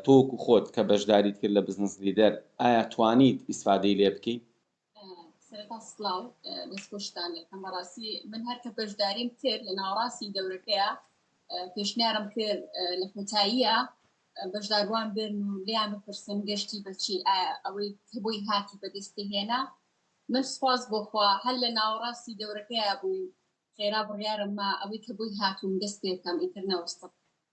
تۆ وەکو خۆت کە بەشداریت کرد لە بزنس لیدەر ئایا توانیت ئیسفادەی لێ بکەی؟ سەرەتا سڵاو دەست خۆشتان لێ بکەم بەڕاستی من هەر کە بەشداریم کرد لە ناوەڕاستی دەورەکەیە پێشنیارم کرد لە کۆتاییە بەشداروان بن و لیان بپرسن گەشتی بەچی ئەوەی کە بۆی هاتی بەدەستی هێنا من سپاس بۆخوا هەر لە ناوەڕاستی دەورەکەیە بووین خێرا بڕیارم ما ئەوەی کە بۆی هاتووم دەست پێکەم ئیتر نەوەستم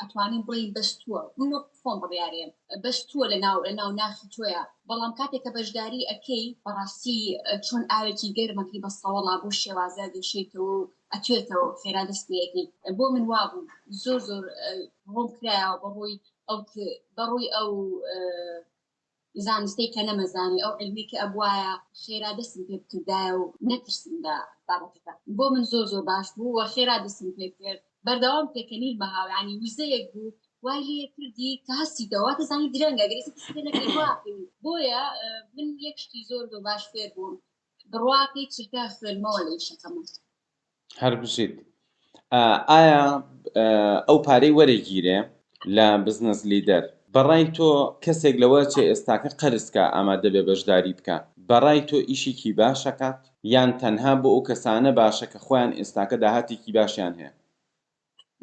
ئەتوانین بڵین بەستووە من وەک خۆم بڕیارێن بەستووە لە ناو لە ناو ناخی تۆیە بەڵام کاتێک کە بەشداری ئەەکەی بەڕاستی چۆن ئاوێکی گەرمەکەی بە سەوەڵا بۆ شێوازە دێشێتەوە و ئەتوێتەوە خێرا دەست پێەکەی بۆ من وابوو زۆر زۆر ڕۆم کرایەوە بەڕووی ئەو بەڕووی ئەو زانستەی کە نەمەزانی ئەو علمەی کە ئەبوایە خێرا دەستم پێ بکردایە و نەترسم لە بابەتەکە بۆ من زۆر زۆر باش بوو و خێرا دەستم پێ کرد بەردەوام پێکەنین بە هاویانی وزەیەک بوو وای لێ کردی کە هەستیتەوە واتە زانی درەنگە گەر هیچ پێ نەکەی وا ئەکەوی بۆیە من یەک شتی زۆر زۆر باش فێر بووم بڕوا کەی چرکە خوێنمەوە لە ئیشەکەمان. هەر بژیت. ئایا ئەو پارەی وەرەگیرێ لە بزنس لیدەر بەڕای تۆ کەسێک لەوە چێ ئێستاکە قەرز کا ئامادە بێ بەژداری بکا بەڕای تۆ ئیشیکی باش ئەکات یان تەنها بۆ ئەو کەسانە باشە کە خۆیان ئێستاکە داهاتێکی باشیان هەیە؟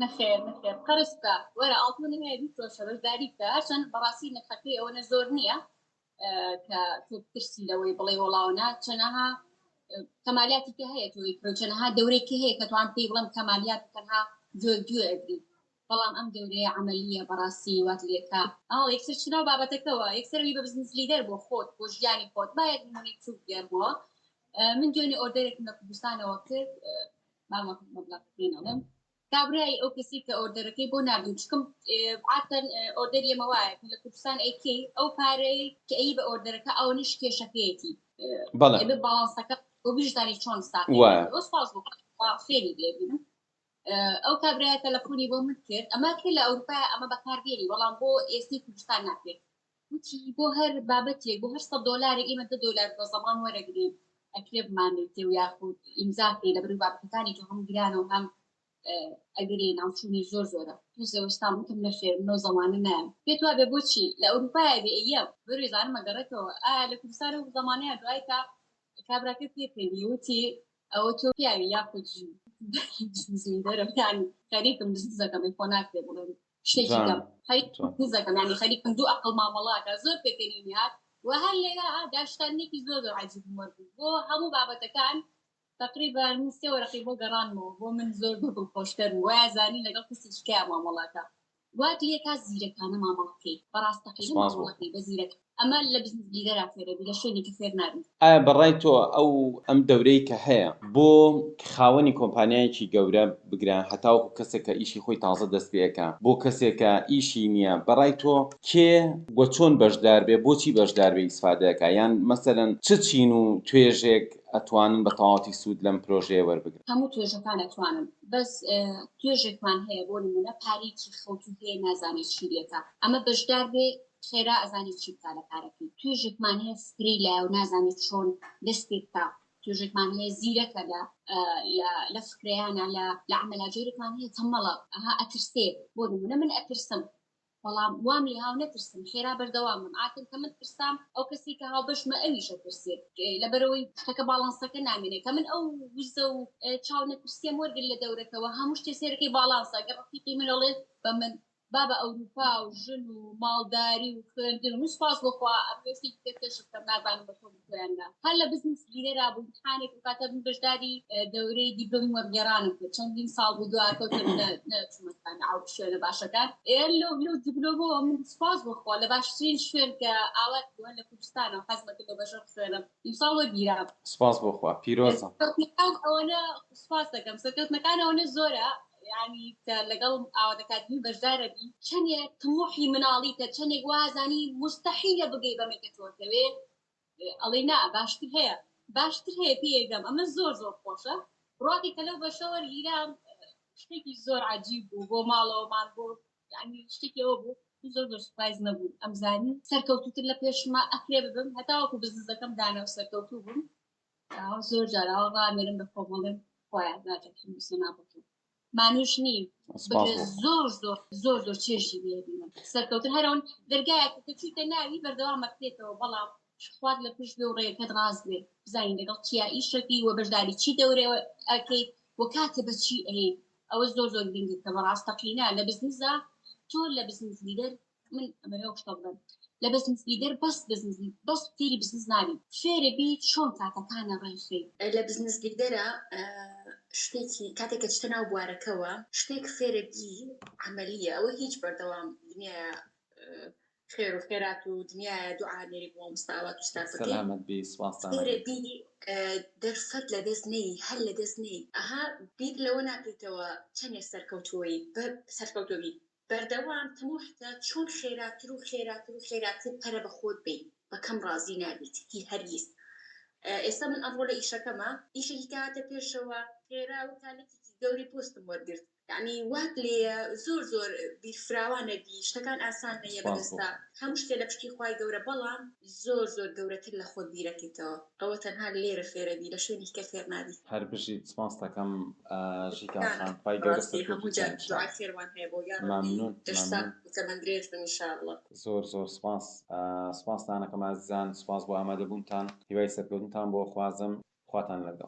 نەخێر نەخێر قەرز بکە وەرە ئاڵتونی هەیە بیفرۆشە بەژداری بکە هەرچەند بەڕاستی نرخەکەی ئەوەنە زۆر نیە کە تۆ پرسی لەوەی بڵێ وڵاونا چەنەها کەمالیاتی کە هەیە تۆی چەنەها دەورێکی هەیە کە توان پێی بڵم کەمالیات تەنها زۆر دوێ ئەگری بەڵام ئەم دەورەیە عملیە بەڕاستی وات لێکا ئاڵ یەکسەر چناو بابەتەکەەوە یەکسەروی بە بزنس لیدەر بۆ خۆت بۆ ژیانی خۆت باەک نمونی چوک گەر بووە من دوێنێ ئۆردەرێکم لە کوردستانەوە کرد مامەڵم کابرای ئەو کەسی کە ئۆردەرەکەی بۆ ناردم چکم عادتەن ئۆردەری ئێمە وایە کە لە کوردستان ئەیکەی ئەو پارەی کە ئەیی بە ئۆردەرەکە ئەوەنەش کێشەکەیەتی بەڵێ ئەبێ باڵانسەکە بۆ بیشزانی چۆن ساغ وایە بێت. ئەوە سپاس بۆ خوا خێری لێ بینم ئە، ئەو کابرایە تەلەفۆنی بۆ من کرد ئەمە کە لە ئەوروپایە ئەمە بەکاردێنی بەڵام بۆ ئێستەی کوردستان ناکرێت وتی بۆ هەر بابەتێک بۆ هەر سەد دۆلارێک ئێمە دە دۆلار بە زەمام وەرەگرین ئەکرێ بمانێتێ و یاخود ئیمزا بکەی لە بەرو بابەتەکانی تۆ هەم گرانە و هەم ئەگەری ناوچوونی زۆر زۆرە پێش زەوەستان وتم نەخێر منەو زەمانە نایەم پێت وابێ بۆچی لە ئەوروپایە بێ ئەیە بەروێ زانمە گەڕێتەوە ئا لە کوردستان و زەمانەیە دوای تا کابراکە پێکەنی وتی ئەوە تۆ پیاوی یاخود ژن زیندەرەکانی خەریکم دزەکەمەی خۆ ناکرێ بڵێم شتێکی کەم خەریک قوز دەکەم یانی خەریک کەم دوو ئەقڵ مامەڵە ئەکا زۆر پێکەنین هات و هەر لێرە دا شتانێکی زۆر زۆر عەجیب و مەرگ بوو بۆ هەموو بابەتەکان تقریبا من سێ وەرەقی بۆ گەڕانمەوە بۆ من زۆر بە دڵخۆشکەر بوو وایە زانی لەگەڵ کەسێکی کیا مامەڵە ئەکا وات لێ کا زیرەکانە مامەڵە بکەی بە ڕاستەقینە مامەڵە بکەی بە زیرەکانە ئەمە لە بزنس لیدەرا فێر ئەبی لە شوێنێکی فێر نابی. ئایا بەڕای تۆ ئەو ئەم دەورەی کە هەیە بۆ خاوەنی کۆمپانیایەکی گەورە بگرە هەتاوەکو کەسێک کە ئیشی خۆی تازە دەست پێ ئەکا بۆ کەسێک کە ئیشی نیە بەڕای تۆ کێ و چۆن بەشدار بێ بۆچی بەشدار بێ ئیسفادە ئەکا یان مەسەلەن چ چین و توێژێک ئەتوانن بە تەواوەتی سوود لەم پرۆژەیە وەربگرن؟ هەموو توێژەکان ئەتوانن بەس توێژێکمان هەیە بۆ نموونە پارەیەکی خەوتوو هەیە نازانێ چی لێکا ئەمە بەشدار بێ خێرا ئەزانی چی بکا لە کارەکەی توێژێکمان هەیە سپرەی لایەو نازانێت چۆن دەست پێ بکا توێژێکمان هەیە زیرەکە لە لە فکرەیانە لە لە عملا جۆرێکمان هەیە تەمەڵە ئەها ئەترسێ بۆ نمونە من ئەترسم بەڵام وام لێ هاو نەترسم خێرا بەردەوامم ئاکن کە من ترسام ئەو کەسی کە هاو بەشمە ئەویشە ترسێت لەبەرەوەی شتەکە باڵانسەکە نامێنێت کە من ئەو وزە و چاو نەترسێم وەرگر لە دەورەکەەوە هەموو شتێ سێرەکەی باڵانسە گەڕقیقی منەڵێت بە من با بە ئەوروپا و ژن و ماڵداری و خوێندن هەموو سوپاس بۆ خوا ئەمنۆ شتێکی تر کەشف کەم نازانم بە تۆ بتوێم نا هەر لە بزنس گیرە را بووم امتحانێک ئەو کاتە بووم بەژداری دەورەی دیبلۆمی وەرگێرانم کرد چەندین ساڵ بوو دوار کەوتم نە نەچوومە جامعە و شوێنە باشەکان ئێ لۆ لۆ دیبلۆمەوە من سوپاس بۆ خوا لە باشترین شوێن کە ئاوات بووە لە کوردستانەوە حەزمە کرد لە بەژەر خوێنم ئیمساڵ وەرگیرا. سوپاس بۆ خوا پیرۆزە. سەرکەوتنەکان ئەوەنە سوپاس دەکەم سەرکەوتنەکان ئەوەنە زۆرە یعنی کە لەگەڵ ئاوات ئەکادمی بەشدارە بی چەندێک تموحی مناڵیتە چەندێک وازانی مستحیلە بگەی بەمەی کە تۆ دەوێ ئەڵێ نا باشتر هەیە باشتر هەیە پێیەگەم ئەمە زۆر زۆر خۆشە ڕاقی کە لەو بەشە وەرگیرام شتێکی زۆر عجیب بوو بۆ ماڵەوەمان بۆ یانی شتێکی ئەوە بوو زۆر زۆر سپایز نەبوو ئەمزانی سەرکەوتوتر لە پێشما ئەکرێ ببم هەتاوەکو بزنزەکەم دانا و سەرکەوتوو بووم زۆر جاراوە ڕامێرم بە خۆمەڵێن خۆیان ناجەکەم سەنا بکەم مانوش نیم زۆر زۆر زۆر زۆر چێژی لێبینم سەرکەوتن هەرەوەن دەرگایەکە کە چیتە ناوی بەردەوام مەکرێتەوە بەڵام خوارد لە پشت بێ و ڕێەکەت ڕاست بێ بزانین لەگەڵ چیا ئیشەکەی وە بەشداری چی دەورەوە ئەکەیت وە کاتێ بەچی ئەیت ئەوە زۆر زۆر گرنگە کە بەڕاستەقینە لە بزنسدا تۆ لە بزنس لیدەر من ئەمەوێ شتە بڵێم لە بزنس لیدەر بەس بزنس بەس فێری بزنس نابی فێرە بی چۆن کاتەکانە ڕێخی لە بزنس لیدەرە شتێکی کاتێک کە چتە ناو بوارەکەوە شتێک فێرە بی عملیە ئەوە هیچ بەردەوام دنیاە خێرو خێرات و دنیایە دوعا نێری بۆ مامۆستا ئاوات ئوستازەکەی. سەلامەت بی سوپاستان ئەکەم. خێرە بیری دەرفەت لەدەست نەیی هەر لەدەست نەیی. ئەها بیر لەوە ناکەیتەوە چەنێ سەرکەوتووەی بە سەرکەوتوو بی بەردەوام تموحتە چۆن خێراتر و خێراتر و خێراتر پەرە بە خۆت بەی بە کەم ڕازی نابیت هی هەرگیز ئێستا من ئەمڕۆ لە ئیشەکەما ئیشێکی کەهاتە پێشەوە خێرا وتا لکیکی گەورەی پۆستم وەرگرت یانی وات لێیە زۆر زۆر بیر فراوانە بی شتەکان ئاسان نەیە بەدەستا هەموو شتێ لە پشتی خوای گەورە بەڵام زۆر زۆر گەورەتر لە خۆت بیرەکەیتەوە ئەوە تەنها لێرە فێرەبی لە شوێنی کە فێر نابی. هەر بژیت سپاستەکەم ژیکا خان خوای گەورە سەرکەوتوت کات انشاللە مەمنون مەمنون زۆر زۆر سپاس سپاستان ئەکەم ئازیزان سپاس بۆ ئامادەبونتان هیوای سەرکەوتنتان بۆ ئەخوازم خواتان لەگەڵ.